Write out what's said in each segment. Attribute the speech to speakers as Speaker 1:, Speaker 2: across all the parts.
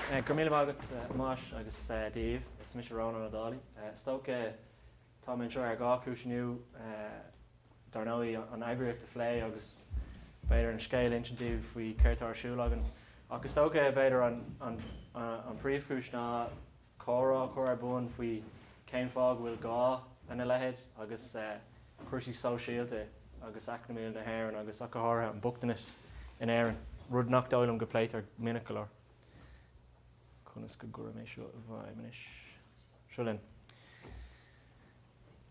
Speaker 1: Go raibh míle maith agat Thomáis agus Daoibh, is mise Rónán Ó Dálaigh. Is dócha tá mé anseo ar dhá chúis inniu, dár ndóigh an eagraíocht a phlé agus b'fhéidir an scéal a insint daoibh faoi céard tá ar siúl againn. Ach is dócha b'fhéidir an príomhchúis ná comhrá a chur ar bun faoi cén fáth go bhfuil gá lena leithéid agus cúrsaí sóisialta agus eacnamaíola na hÉireann agus ach go háirithe an bochtanas in Éirinn, rud nach dóigh liom go bpléitear minic go leor. Conas go gcuirim é seo i bhfeidhm anois? Seo linn.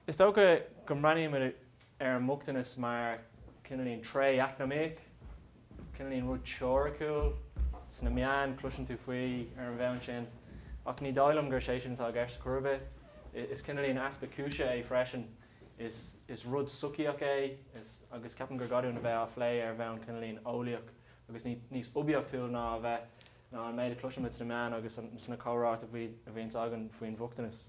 Speaker 1: Is dócha go mbreathnaímid ar an mbochtanas mar cineáilín tréith eacnamaíoch, cineáilín rud teoiriciúil. Sna meáin cloiseann tú faoi ar an bhonn sin, ach ní dóigh liom gur sé sin atá i gceist chor ar bith. Is cineáilín easpa cúise é freisin. Is rud sochaíoch é agus ceapaim gur gá dúinn a bheith á phlé ar bhonn cineáilín eolaíoch agus níos oibiachtúil ná a bheith ná an méid a chloiseann muid sna meáin agus sna comhráite a bhíonns againn faoin bhochtanas.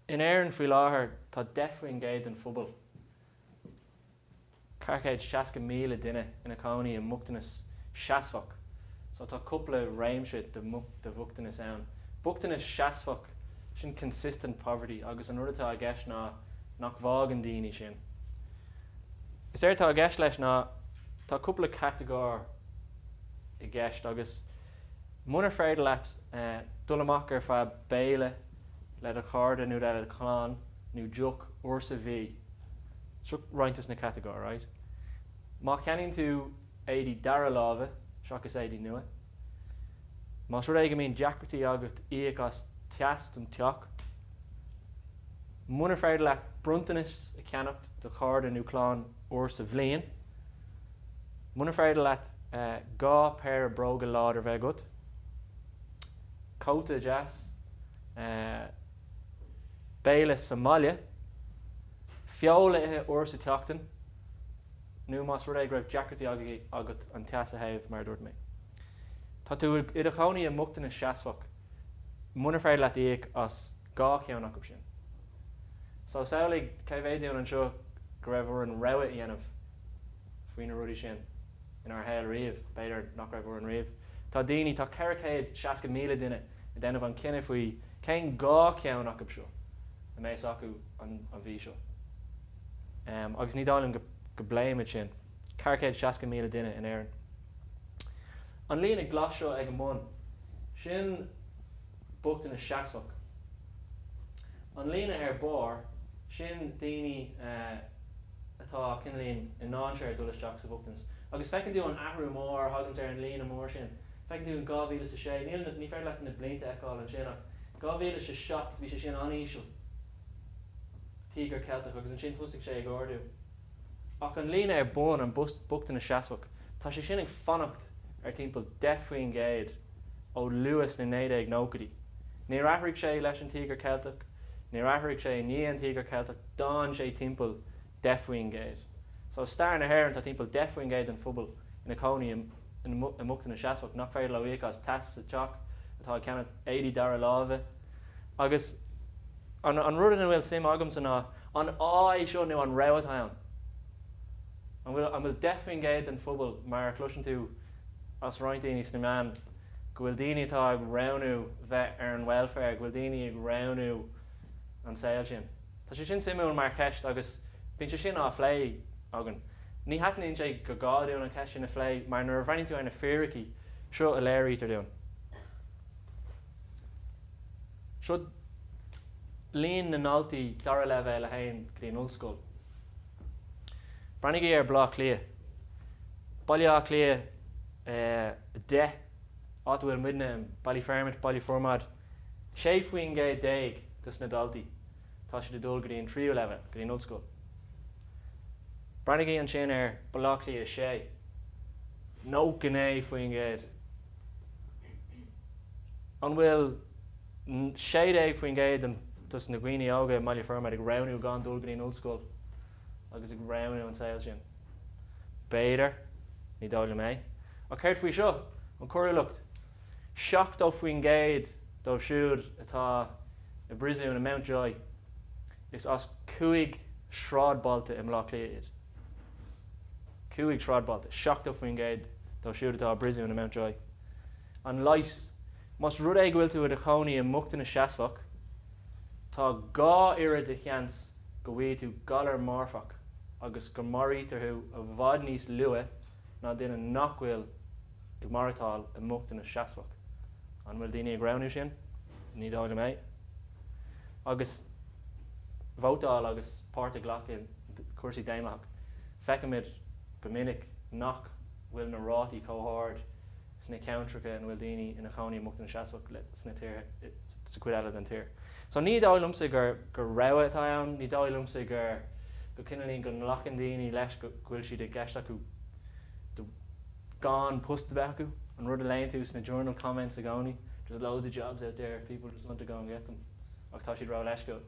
Speaker 1: In Éirinn faoi láthair tá 10 faoin gcéad den phobal, 460,000 duine, ina cónaí i mbochtanas seasmhach. So tá cúpla réimse de bhochtanas ann. Bochtanas seasmhach, sin consistent poverty agus an rud atá i gceist ná nach bhfágann daoine sin. Is éard atá i gceist leis ná tá cúpla catagóir i gceist agus munar féidir leat dul amach ar feadh béile le do chairde nó le do chlann nó deoch uair sa mhí, seo roinnt as na catagóir, right, má cheannaíonn tú. éadaí dara láimhe seachas éadaí nua. Más rud é go mbíonn deacrachtaí agat íoc as teas don teach, munar féidir leat bronntanas a cheannacht do chairde nó clann uair sa bhliain, munar féidir leat dhá péire bróga láidir a bheith agat, cóta deas, béile sa mbaile, feoil a ithe uair sa tseachtain. nó más rud é go raibh deacrachtaí agat an teas a théamh, mar a dúirt mé, tá tú i do chónaí i mbochtanas seasmhach munar féidir leat íoc as dhá cheann acu sin. So, samhlaigh cé mhéad dúinn anseo go raibh orainn rogha a dhéanamh faoi na rudaí sin inár shaol riamh, b'fhéidir nach raibh orainn riamh. Tá daoine, tá 460,000 duine ag déanamh an cinneadh faoi cén dhá cheann acu seo a mbeas acu an mhí seo. agus ní dóigh liom go bpléimid sin. 460,000 duine in Éirinn. An líne glas seo ag an mbun, sin bochtanas seasmhach. An líne ar barr, sin daoine atá cineál i ndainséar dul isteach sa bhochtanas. Agus feiceann tú an t-athrú mór a thaganns ar an líne mór sin. Feiceann tú in 2006, níl, ní féidir leat na blianta a fheiceáil ansin, ach 2007 bhí sé sin an-íseal. Tíogar Ceilteach agus ansin thosaigh sé ag ardú. Ach an líne ar bun, an bochtaine seasmhach, tá sé sin ag fanacht ar timpeall 10 faoin gcéad ó luath sna 1990idí. Níor athraigh sé leis an Tíogar Ceilteach, níor athraigh sé i ndiaidh an Tíogar Ceilteach, d'fhan sé timpeall 10 faoin gcéad. So stair na hÉireann tá timpeall 10 faoin gcéad den phobal ina cónaí i mbochtaine seasmhach nach féidir leo íoc as teas sa teach, atá ag ceannach éadaí dara láimhe, agus an an rud ina bhfuil suim agamsa ná an ádh é seo nó an rogha atá ann? An bhfuil 10 faoin gcéad den phobal mar a chloiseann tú as roinnt daoine sna meáin go bhfuil daoine atá ag roghnú bheith ar an welfare, go bhfuil daoine ag roghnú an saol sin? Tá sé sin suimiúil mar cheist agus bíonn sé sin á phlé againn. Ní cheapaimse gur gá dúinn an cheist sin a phlé mar nuair a bhreathnaíonn tú ar na fíricí, seo a léirítear dúinn. Seo líon na ndaltaí dara leibhéal a théann go dtí an ollscoil. Breathnaígí ar Baile Átha Cliath. Baile Átha Cliath 10, áit a bhfuil muidne, Ballyfermot, Baile Formaid. 16 faoin gcéad dos na daltaí, tá siad ag dul go dtí an tríú leibhéal, go dtí an ollscoil. Breathnaígí ansin ar Baile Átha Cliath 6. 99 faoin gcéad. An bhfuil 16% dos na daoine óga i mBaile Formaid ag roghnú gan dul go dtí an ollscoil agus ag roghnú an saol sin? B'fhéidir, ní dóigh liom é. Ach céard faoi seo? An choiriúlacht? 70% dóibh siúd atá i bpríosún i Mountjoy, is as cúig sráidbhailte i mBleá Cliath iad. 5 sráidbhailte, 70% dóibh siúd atá i bpríosún i Mountjoy. An leigheas? Más rud é go bhfuil tú i do chónaí i mbochtanas seasmhach, tá dhá oiread de sheans go bhfaighidh tú galar marfach agus go maraítear tú i bhfad níos luaithe ná duine nach bhfuil Ag maireachtáil i mbochtanas seasmhach. An bhfuil daoine ag roghnú sin? Ní dóigh liom é. Agus vótáil agus páirt a ghlacadh i cúrsaí daonlathach, feicimid go minic nach bhfuil na rátaí chomh hard sna ceantracha ina bhfuil daoine ina chónaí i mbochtanas seasmhach sna tíortha sa chuid eile den tír. So ní dóigh liomsa gur rogha atá ann. Ní dóigh liomsa gur go cineálín go nglacann daoine leis go bhfuil siad i gceist acu. gan post a bheith acu, an rud a léann tú sna journal comments i gcónaí, there's loads of jobs out there if people just want to go and get them ach tá siad ró-leisciúil.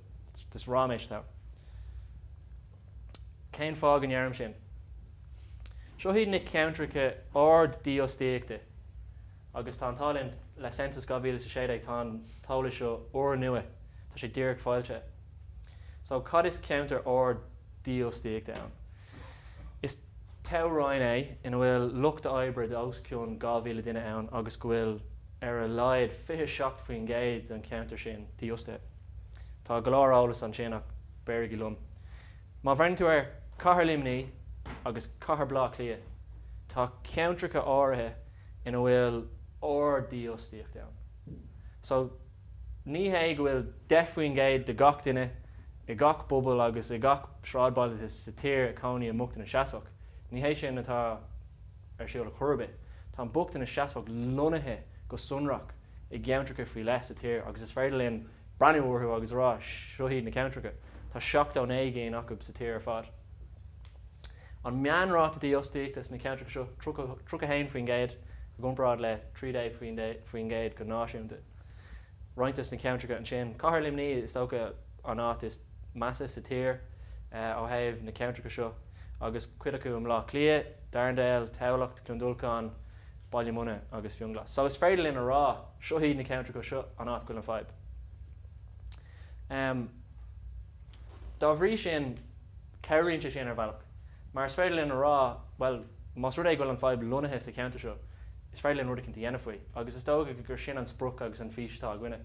Speaker 1: Just ráiméis leo. Cén fáth go ndeirim sin? Seo hiad na ceantracha ard dífhostaíochta agus tá an t-ádh linn, le Census 2016 tá an t-eolas seo úr-nua, tá sé díreach foilsithe. So cad is ceantar ard dífhostaíochta ann? Is. toghroinn é ina bhfuil lucht oibre de os cionn 2,000 duine ann agus go bhfuil ar a laghad 27% den cheantar sin dífhostaithe. Tá go leor eolas ansin ach beirigí liom. Má bhreathnaíonn tú ar Cathair Luimní agus Cathair Blá Cliath, tá ceantracha áirithe ina bhfuil ard dífhostaíocht ann. So. Ní hé go bhfuil 10 faoin gcéad de gach duine i gach bpobal agus i gach sráidbhaile sa tír ag cónaí i mbochtanas seasmhach. Ní hé sin atá ar siúl ar chor ar bith. Tá an bochtanas seasmhach lonnaithe go sonrach i gceantracha faoi leith sa tír agus is féidir linn breathnú orthu agus a rá, seo iad na ceantracha. Tá seachtó naoi gcinn acu sa tír ar fad. An meánráta dífhostaíochta sna ceantracha seo, tríocha haon faoin gcéad i gcomparáid le trí déag faoin gcéad go náisiúnta. Roinnt des na ceantracha ansin. Cathair Luimní is dócha an áit is measa sa tír ó thaobh na ceantracha seo agus cuid acu i mBlá Cliath, Darndale, Tamhlacht, Cluain Dolcáin, Baile Munna agus Fionnghlas. So is féidir linn a rá seo iad na ceantracha seo an áit go bhfuil an fadhb. Dá bhrí sin. Cabhraíonn sé sin ar bhealach. Mar is féidir linn a rá, bhuel, más rud é go bhfuil an fadhb lonnaithe sa cheantar seo, is féidir linn rud eicínt a dhéanamh faoi. Agus is dócha go gur sin an sprioc agus an fís atá againne.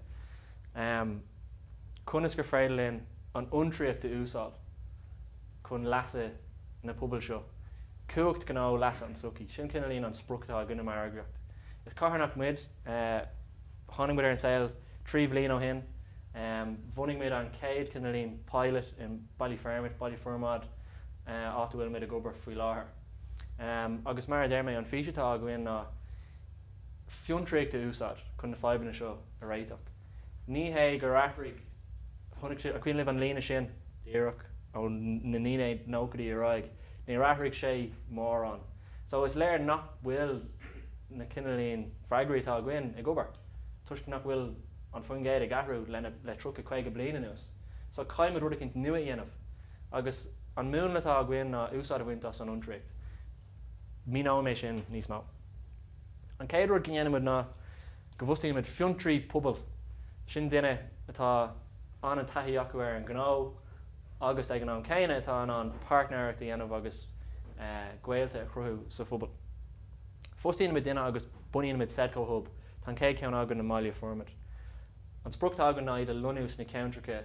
Speaker 1: Conas gur féidir linn an fhiontraíocht a úsáil chun leasa na pobail seo, cumhacht gnó leasa an tsochaí, sin cineálín an sprioc atá againne mar eagraíocht. Is carthanacht muid, tháinig muid ar an saol trí bhliain ó shin, bhunaigh muid an chéad cineálín pilot, i. Ballyfermot, Baile Formaid, áit a bhfuil muid ag obair faoi láthair. Agus mar a deir mé, an fís atá againn ná fiontraíocht a úsáid chun na fadhbanna seo a réiteach. Ní hé gur athraigh, an cuimhin libh an líne sin, díreach ó na 1990idí ar aghaidh, níor athraigh sé mórán so is léir nach bhfuil na cineálín freagraí atá againn ag obair toisc nach bhfuil an faoin gcéad ag athrú le 30, 50 bliain anuas. So caithfidh muid rud eicínt nua a dhéanamh agus an múnla atá againn ná úsáid a bhaint as an fhiontraíocht. Míneoidh mé sin níos mó. An chéad rud go ndéanann muid ná go bhfostaíonn muid fiontraí pobail. Sin duine atá an-taithí acu ar an ngnó agus ag an am céanna atá in ann páirtnéireacht a dhéanamh agus gaolta a chruthú sa phobal. Fostaíonn muid duine agus bunaíonn muid Sedco Hub, tá an chéad cheann againn i mBaile Formaid. An sprioc atá againn ná iad a lonnú sna ceantracha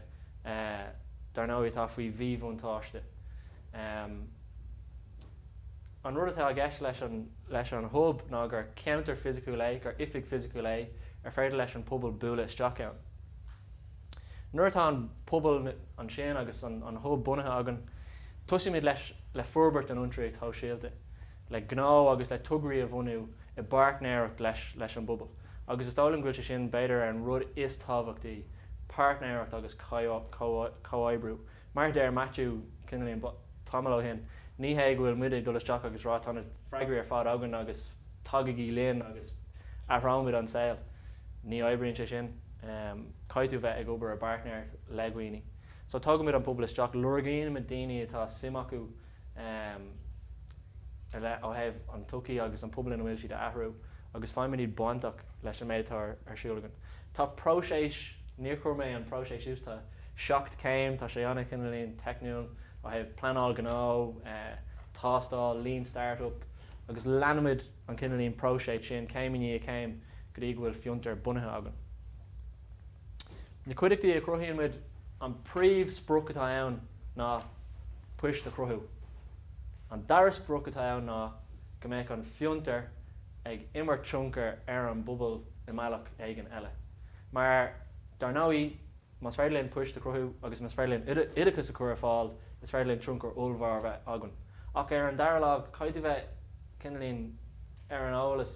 Speaker 1: dar ndóigh atá faoi mhíbhuntáiste. An rud atá i gceist leis an Hub ná gur ceantar fisiciúil é, gur oifig fisiciúil é ar féidir leis an bpobal bualadh isteach ann. Nuair atá an pobal ansin agus an Hub bunaithe againn, tosaímid le forbairt an fhiontraíocht shóisialta. le gnó agus le tograí a bhunú i bpáirtnéireacht leis an bpobal agus is dóigh liom go bhfuil sé sin b'fhéidir ar an rud is tábhachtaí, páirtnéireacht agus comhoibriú. Mar a deir Maitiú cineálín tamall ó shin, ní hé go bhfuil muid ag dul isteach agus rá tá na freagraí ar fad againn agus tagaigí linn agus athróimid an saol. Ní oibríonn sé sin. Caithfidh tú bheith ag obair i bpáirtnéireacht le daoine. So tógaimid an pobal isteach, lorgaíonn muid daoine atá suim acu ar leith ó thaobh an tsochaí agus an pobal ina bhfuil siad a athrú agus faigheann muid iad bainteach leis an méid atá ar siúl againn. Tá próiseas, níor chuir mé an próiseas suas, tá seacht céim, tá sé an-, cineálín, teicniúil, ó thaobh pleanáil gnó, tástáil, lean startup, agus leanann muid an cineálín próiseas sin céim i ndiaidh céim go dtí go bhfuil fiontar bunaithe againn. Na cuideachtaí a chruthaíonn muid, an príomh sprioc atá ann ná poist a chruthú. An dara sprioc atá ann ná go mbeadh an fiontar ag imirt tionchar ar an bpobal i mbealach éigin eile. Mar dar ndóigh, más féidir linn poist a chruthú agus más féidir linn oideachas a chur ar fáil, is féidir linn tionchar ollmhór a bheith againn. Ach ar an dara lámh, caithfidh tú bheith cineálín ar an eolas,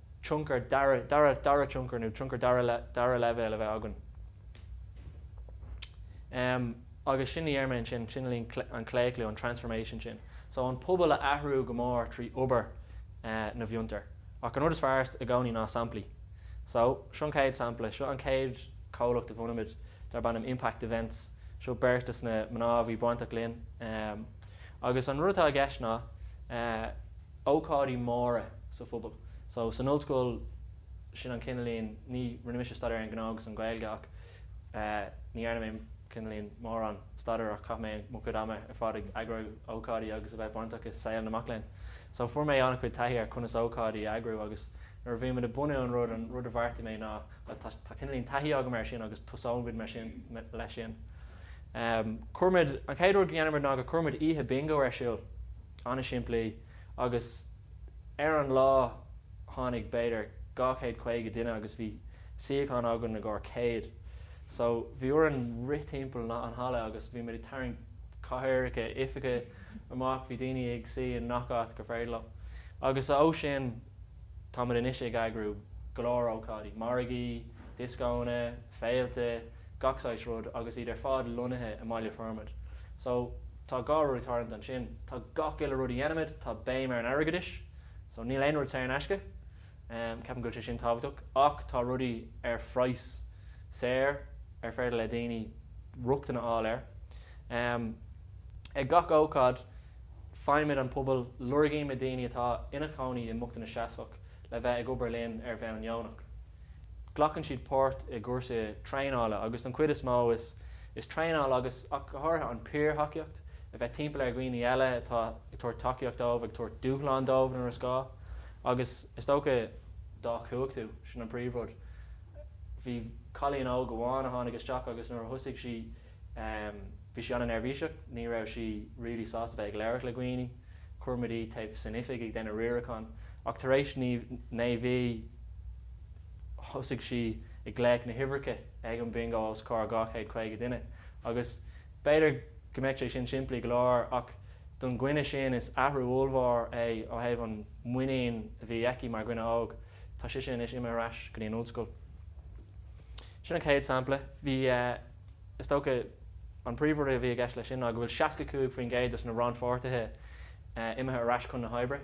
Speaker 1: tionchar dara tionchar nó tionchar dara dara leibhéal a bheith againn em agus sin a déarfainn sin é an claochlú an transformation sin so an pobal a athrú go mór trí obair eh na bhfiontar ach an rud is fearr i gcónaí ná samplaí so seo an chéad sampla seo an chéad comhlacht a bhunaimid darb ainm impact events seo beirt de na mná a bhí bainteach linn em agus an rud atá i gceist ná eh ócáidí móra sa phobal. So san ollscoil, sin an cineáilín, ní, rinne mise staidéar ar an Ghnó agus an Ghaeilge ach eh ní dhearna mé cineáilín mórán staidéar ach chaith mé mo chuid ama ar fad ag eagrú ócáidí agus a bheith bainteach i saol na mac léinn. So fuair mé an-chuid taithí ar conas ócáidí a eagrú agus nuair a bhí muid ag bunú an rud, an rud a bheartaigh mé ná bhuel tá, tá cineáilín taithí agam air sin agus tosóimid mar sin, leis sin. Em cuirimid, an chéad rud go ndéanaimid ná go cuirimid oíche Bingo ar siúl. an-simplí agus ar an lá tháinig b'fhéidir 250 duine agus bhí suíocháin againn i gcomhair 100 so bhí orainn rith timpeall na an halla agus bhí muid ag tarraingt cathaoireacha oifige amach bhí daoine ag suí in ngach áit gur féidir leo agus ó sin tá muid anois ag eagrú go leor ócáidí, margaí, dioscóanna, féilte, gach saghas rud agus iad ar fad lonnaithe i mBaile Formaid so. Tá dhá rud ag tarlú ansin, tá gach uile rud a dhéanaimid, tá béim ar an airgeadais, so níl aon rud saor in aisce, ceapaim go bhfuil sé sin tábhachtach, ach tá rudaí ar phraghas saor ar féidir le daoine rochtain a fháil air. Ag gach ócáid, faighimid an pobal, lorgaímid daoine atá ina gcónaí i mbochtanas seasmhach le bheith ag obair linn ar bhonn deonach. Glacann siad páirt i gcúrsaí traenála agus don chuid is mó is traenáil agus ach go háirithe an peer thacaíocht, a bheith timpeall ar dhaoine eile atá ag tabhairt tacaíocht dóibh, ag tabhairt dúshlán dóibh nuair is gá agus is dócha, dá chumhachtú, sin an príomhrud. Bhí cailín óg amháin a tháinig isteach agus nuair a thosaigh sí. Bhí sí an-neirbhíseach, ní raibh sí really sásta bheith ag labhairt le daoine. Chuir muid í taobh san oifig ag déanamh riarachán ach tar éis naoi mhí thosaigh sí ag glaoch na huimhreacha ag an Bingó os comhair dhá chéad caoga duine agus b'fhéidir go mbeadh sé sin simplí go leor ach don duine sin is athrú ollmhór é ó thaobh an muinín a bhí aici mar dhuine óg. Tá sise anois imithe ar ais go dtí an ollscoil. Sin an chéad sampla. Bhí. is dócha an príomhrud a bhí i gceist leis sin ná go bhfuil 65% dos na rannpháirtithe imithe ar ais chun na hoibre,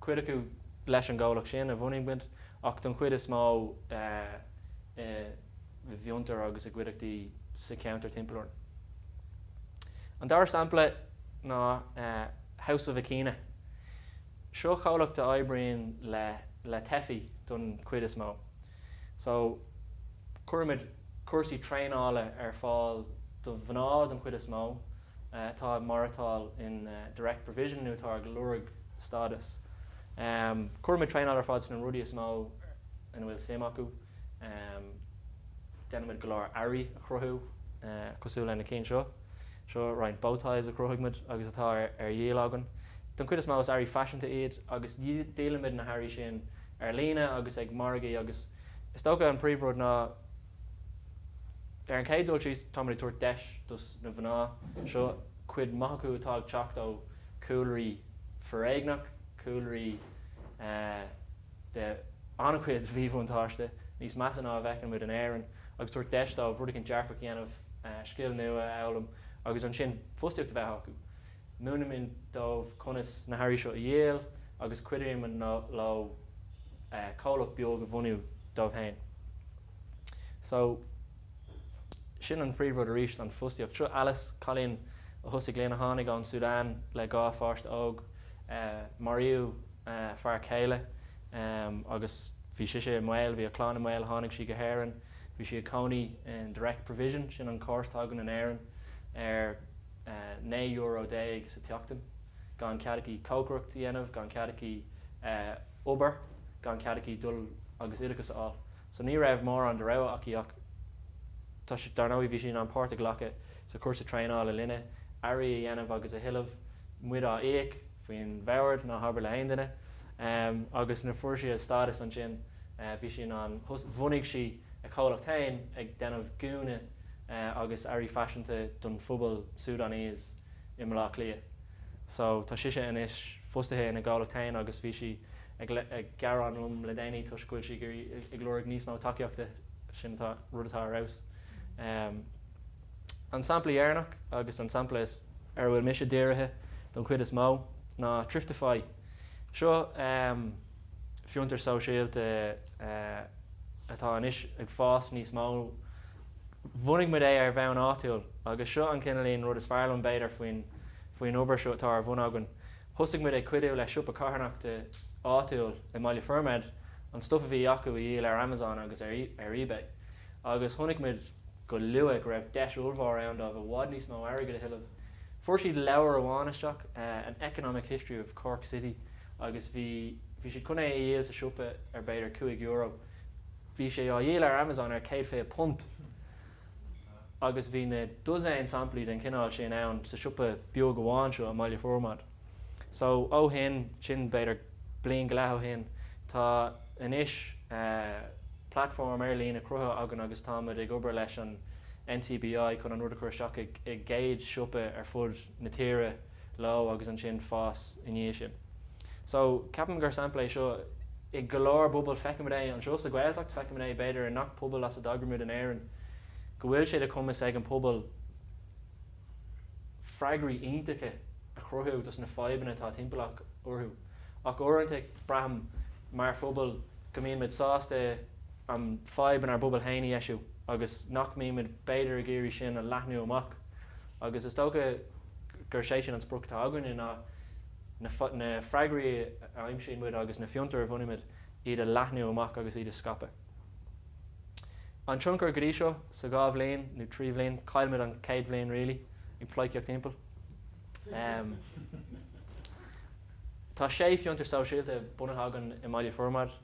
Speaker 1: cuid acu leis an gcomhlacht sin a bhunaigh muid ach don chuid is mó i bhfiontair agus i gcuideachtaí sa cheantar timpeall orainn. An dara sampla ná House of Akina. Seo comhlacht a oibríonn le teifigh don chuid is mó. So, cuirimid cúrsaí traenála ar fáil do mhná den chuid is mó, atá ag maireachtáil in direct provision nó atá ag lorg stádas. Cuirimid traenáil ar fáil sna rudaí is mó ina bhfuil suim acu. Déanaimid go leor earraí a chruthú cosúil leis na cinn seo. Seo roinnt bow ties a chruthaigh muid agus atá ar díol againn. Don chuid is mó is earraí faiseanta iad agus díolaimid na hearraí sin ar líne agus ag margaí agus is dócha an príomhrud ná ar an chéad dul síos táimid ag tabhairt deis dos na mná seo, cuid maith acu atá ag teacht ó chúlraí foréigneach, cúlraí. de an-chuid mhíbhuntáiste, níos measa ná a bhfeiceann muid in Éirinn, agus tabhairt deis dóibh rud éigin dearfach a dhéanamh, scil nua a fhoghlaim agus ansin fostaíocht a bheith acu. Múinimid dóibh conas na hearraí seo a dhíol agus cuidímid leo comhlacht beag a bhunú dóibh féin. So, sin an príomhrud arís, an fostaíocht. Seo Alice, cailín a thosaigh linn, a tháinig ón Sudan le dhá pháiste óg. Maraíodh. fear céile agus bhí sise i mbaol, bhí a clann i mbaol, tháinig sí go hÉireann, bhí sí ina cónaí in Direct Provision, sin an córas atá againn in Éirinn, ar naoi euro déag sa tseachtain, gan cead aici cócaireacht a dhéanamh, gan cead aici obair, gan cead aici dul agus oideachas a fháil. So ní raibh mórán de rogha aici ach tá sé, dár ndóigh bhí sí in ann páirt a ghlacadh sa chúrsa traenála linne, earraí a dhéanamh agus a thuilleamh, muid á íoc, faoin mbord, ná habair le haon duine. Agus nuair a fuair sí a stádas ansin bhí sí in ann bhunaigh sí a comhlacht féin ag déanamh gúna agus earraí faiseanta don phobal Sudanese i mBaile Átha Cliath. So tá sise anois fostaithe ina gcomhlacht féin agus bhí sí ag gearán liom le déanaí toisc go bhfuil sí ag lorg níos mó tacaíochta, sin atá, rud atá ar fheabhas. An sampla deireanach, agus an sampla ar a bhfuil mise dírithe don chuid is mó, ná Thriftify. Seo fiontar sóisialta atá anois ag fás níos mó. Bhunaigh muid é ar bhonn áitiúil agus seo an cineál rud is fearr liom b'fhéidir faoin obair seo atá ar bhun againn. Thosaigh muid ag cuidiú le siopa carthanachta áitiúil i mBaile Formaid an stuif a bhí acu a dhíol ar Amazon agus ar eBay agus chonaic muid go luath go raibh deis ollmhór ann dóibh i bhfad níos mó airgid a thuilleamh. Fuair siad leabhar amháin isteach, An Economic History of Cork City agus bhí bhí siad chun é a dhíol sa siopa ar b'fhéidir cúig euro. Bhí sé á dhíol ar Amazon ar chéad fiche punt agus bhí na dosaen samplaí den chineál sin ann sa siopa beag amháin seo i mBaile Formaid. so ó shin, sin b'fhéidir bliain go leith ó shin, tá anois platform ar líne cruthaithe againn agus táimid ag obair leis an NCBI chun an rud a chur isteach i gcéad siopa ar fud na tíre leo agus ansin fás i ndiaidh sin. So ceapaim gur sampla é seo i go leor bpobail, feicimid é anseo sa Ghaeltacht, feicimid é b'fhéidir i ngach pobal as a dtagaimid in Éirinn, go bhfuil sé de chumas ag an pobal, freagraí iontacha a chruthú dos na fadhbanna atá timpeallach orthu. Ach uaireanta braithim mar phobal go mbíonn muid sásta an fadhb inár bpobal féin a dheisiú agus nach mbíonn muid b'fhéidir ag iarraidh sin a leathnú amach agus is dócha gur sé sin an sprioc atá againne ná na freagraí a aimsíonn muid agus na fiontair a bhunaímid iad a leathnú amach agus iad a scaipeadh. An tionchar go dtí seo sa dhá bhliain nó trí bhliain, chaill muid an chéad bhliain really ag pleidhcíocht thimpeall. Tá sé fiontar sóisialta bunaithe againn i mBaile Formaid.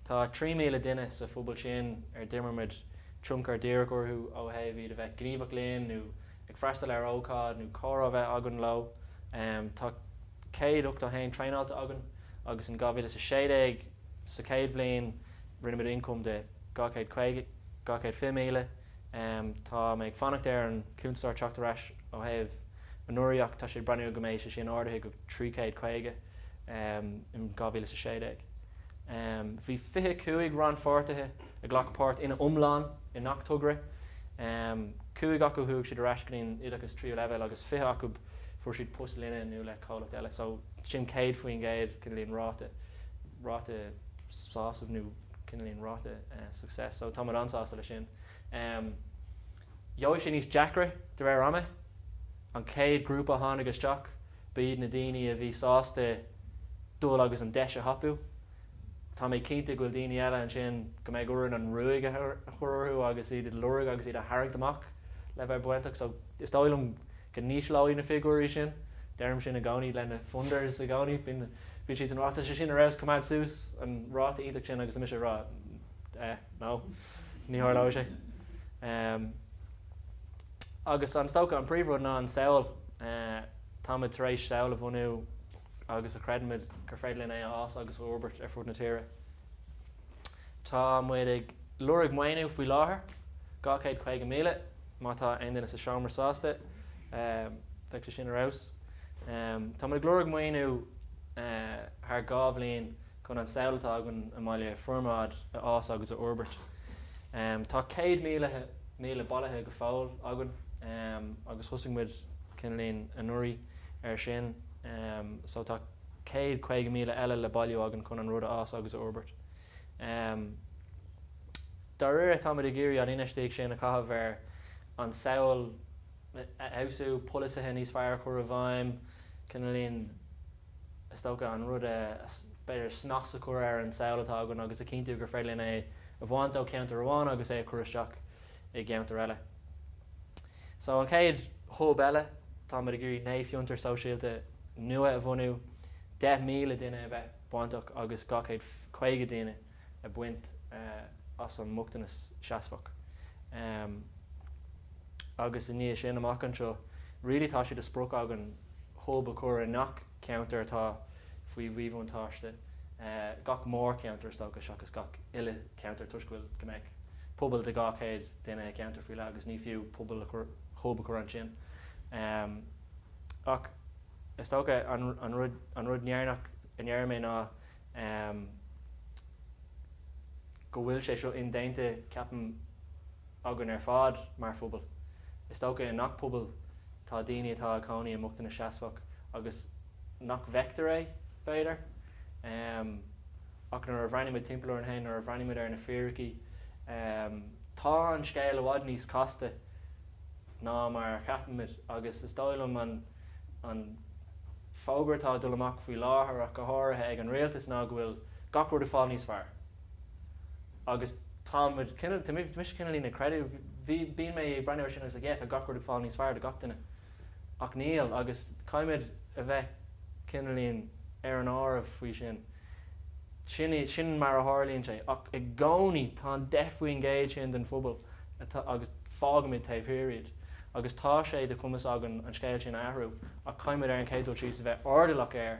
Speaker 1: Tá 3,000 duine sa phobal sin ar d'imir muid tionchar díreach orthu ó thaobh iad a bheith gníomhach linn nó ag freastal ar ócáid nó comhrá a bheith againn leo. Tá 181 traenáilte againn agus in 2016, sa chéad bhliain, Rinne muid ioncam de 250,000. Tá mé ag fanacht ar an cuntasóir teacht ar ais ó thaobh anuraidh ach tá sé ag breathnú go mbeidh sé sin ardaithe go 350 in 2016. Bhí 25 rannpháirtithe a ghlac páirt ina iomlán i ngach togra. Cúig acu chuaigh siad ar ais go dtí an oideachas tríú leibhéal agus 20 acu fuair siad post linne nó le comhlacht eile so sin 100% cineál ráta. ráta sásamh nó cineál ráta success so tá muid an-sásta leis sin. Gheobhaidh sé níos deacra de réir ama. An chéad ghrúpa a tháinig isteach ba iad na daoine a bhí sásta dul agus an deis a thapú. Tá mé cinnte go bhfuil daoine eile ansin go mbeidh orainn an ruaig a chur orthu agus iad a lorg agus iad a tharraingt amach le bheith bainteach so is dóigh liom go n-ísleoidh na figiúirí sin. Deirim sin i gcónaí le na funders i gcónaí, bíonn bíonn siad ag rá tá sé sin ar fheabhas coimeád suas an ráta iontach sin agus mise ag rá eh no, ní tharlóidh sé. Em agus is dócha an príomhrud ná an samhail eh táimid tar éis samhail a bhunú agus a chreidimid gur féidir linn é a fhás agus a fhorbairt ar fud na tíre. Tá muid ag lorg maoiniú faoi láthair, 250,000, má tá aon duine sa seomra sásta, bheadh sé sin ar fheabhas. Tá muid ag lorg maoiniú thar dhá bhliain chun an samhail atá againn i mBaile Formaid a fhás agus a fhorbairt. Tá céad míle bailithe go fóill againn agus thosaigh muid, cineálín, anuraidh ar sin so tá. 150,000 eile le bailiú againn chun an rud a fhás agus a fhorbairt. Dá réir, táimid ag iarraidh an infheistíocht sin a chaitheamh ar an tsamhail a fheabhsú, polasaithe níos fearr a chur i bhfeidhm, cineálín, is dócha, an rud a, b'fhéidir, snas a chur ar an tsamhail atá againn agus a chinntiú gur féidir linn é a bhaint ó cheantar amháin agus é a chur isteach i gceantar eile. So an chéad hub eile tá muid ag iarraidh naoi fiontar sóisialta nua a bhunú, 10,000 duine a bheith bainteach agus 250 duine a bhaint as an mbochtanas seasmhach. Em. Agus i ndiaidh sin amach anseo really tá sé de sprioc againn hub a chur i ngach ceantar atá faoi mhíbhuntáiste, gach mórcheantar is dócha seachas gach uile cheantar toisc go bhfuil go mbeadh pobal de 200 duine i gceantar faoi leith agus ní fiú pobal hub a chur ansin ach is dócha an rud an rud deireanach a ndéarfaidh mé ná go bhfuil sé seo indéanta ceapaim againn ar fad mar phobal is dócha i ngach pobal tá daoine atá ag cónaí i mbochtanas seasmhach agus nach bhfeictear é b'fhéidir. Ach nuair a bhreathnaímid timpeall orainn féin, nuair a bhreathnaímid ar na fíricí, tá an scéal i bhfad níos casta ná mar a cheapaimid. Agus is dóigh liom an fógra atá ag dul amach faoi láthair ach go háirithe ag an rialtas ná go bhfuil gach rud ag fáil níos fearr. Agus tá muid, tá mise cineálín ag creidiúint, bíonn mé ag breathnú ar sin agus like yeah tá gach rud ag fáil níos fearr do gach duine. ach níl agus caithfimid a bheith cineálín ar an áireamh faoi sin. Sin í, sin mar a tharlaíonn sé ach i gcónaí tá an deich faoin gcéad sin den phobal atá, agus fágaimid taobh thiar iad agus tá sé de chumas againn an scéal sin a athrú ach caithfimid ar an chéad dul síos a bheith airdeallach air